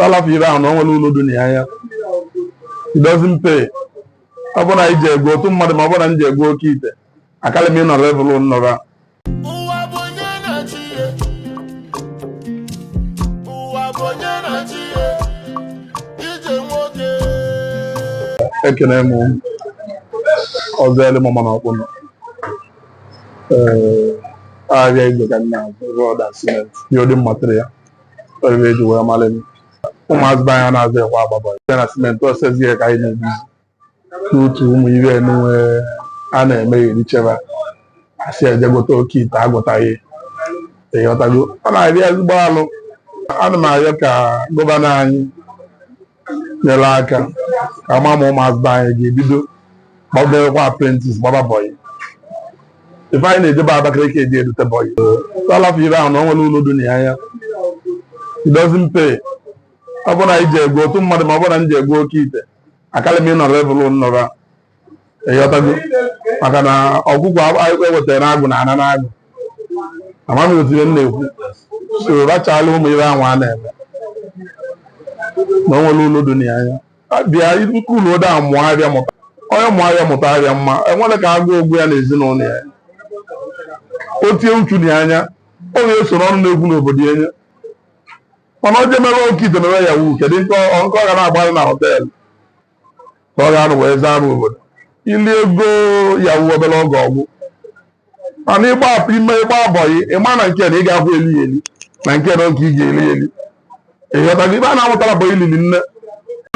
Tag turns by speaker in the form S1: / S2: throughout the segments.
S1: a lafụ ife ahụ na o nwere ulu dị na ya anya it doesn't pay ọ bụrụ na anyị ji ego otu mmadụ ma ọ bụrụ na m ji ego oke ite akarị m ịnọ level nnọrọ ụwa bụ onye na-achị ya ụwa bụ onye na-achị ya ije nwoke ekene m ọzọ ele mama na Ọkpụnọ ee ahịa igwe ka m na-azụ rọd na simenti building material ife e ji wee mara m ụmụazị be anya anazị ekwe agba bọyị na simenti ọsezi ya ka anyị na-ebizi n'otu ụmụ ife nụwa a na-eme eri cheba asị ejegote oke ite agwọtaghị ịghọtago ọ na-adị ezigbo alụ ana m arịọ ka gọvanọ anyị nyere aka ka ma ma ụmụazị be anyị ga-ebido mebekwa apprentice gbaba bọyị ife anyị na-ejebe Abakaliki eje edute bọyị so lafụ ife ahụ na o nwere ulu dị na ya anya it doesn't pay ọ bụrụ na iji egwu otu mmadụ ma ọ bụrụ na m ji egwu oke ite akarị m ịnọ level nnọrọ ịghọtago maka na ọgwụgwọ ewetara na agụ na ana na agụ amaghị m otu ihe m na-ekwu so rachala ụmụ ihe ahụ a na-eme na o nwere ulu dị na ya anya bịa nnukwu ulu ode ahụ mụọ ahịa mụta onye mụọ ahịa mụta ahịa mma enwere ka agụụ gbuo ya na ezinụlọ ya o tinye uchu na ya anya ọ ga-esoro ọnụ na-ekwu n'obodo ya anya mana ọ jemere oke ite mere Yahoo kedu nke ọ nke ọ ga na-agbalị na họteelụ ka ọ ga-anọ wee zaa m obodo ili ego Yahoo obere oge ọ gwụ mana ịgba ime ịgba bọyị ịma na nke na ị ga-akwụ eli ya eli na nke na oge ị ga-eli eli ịghọtago ife a na-amụtara bụ ilili nne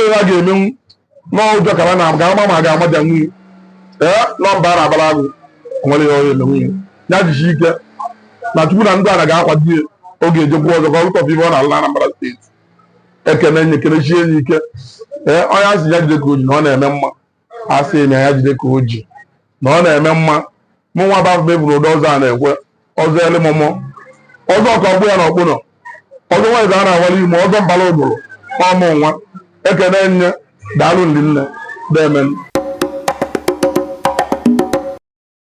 S1: ihe ha ga-emenwu n'ụjọ ka ha na ga ama ma ga-amaja nwunye ee nọmba a na-abara agụ nwere ya onye nwunye ya jichi ike na chukwu na ndị a na ga-akwado ya ọ ga-ejekwu ọzọ ka ọ lụtọpụ ife ọ na-alụ na Anambra steeti ekene nye kenechi enyi ike ee onye a sị ya jide ka o ji na ọ na-eme mma asị m ya jide ka o ji na ọ na-eme mma mụ nwa bafụ mebụrụ ụdọ ọzọ a na-ekwe ọzọ ele mụmụ ọzọ ọka ọgbụ ya na Ọkpụnọ ọzọ nweze a na-awara ime ọzọ mbara ụbụrụ ọmụ nwa ekene nye daalụ ndị nne deeme nụ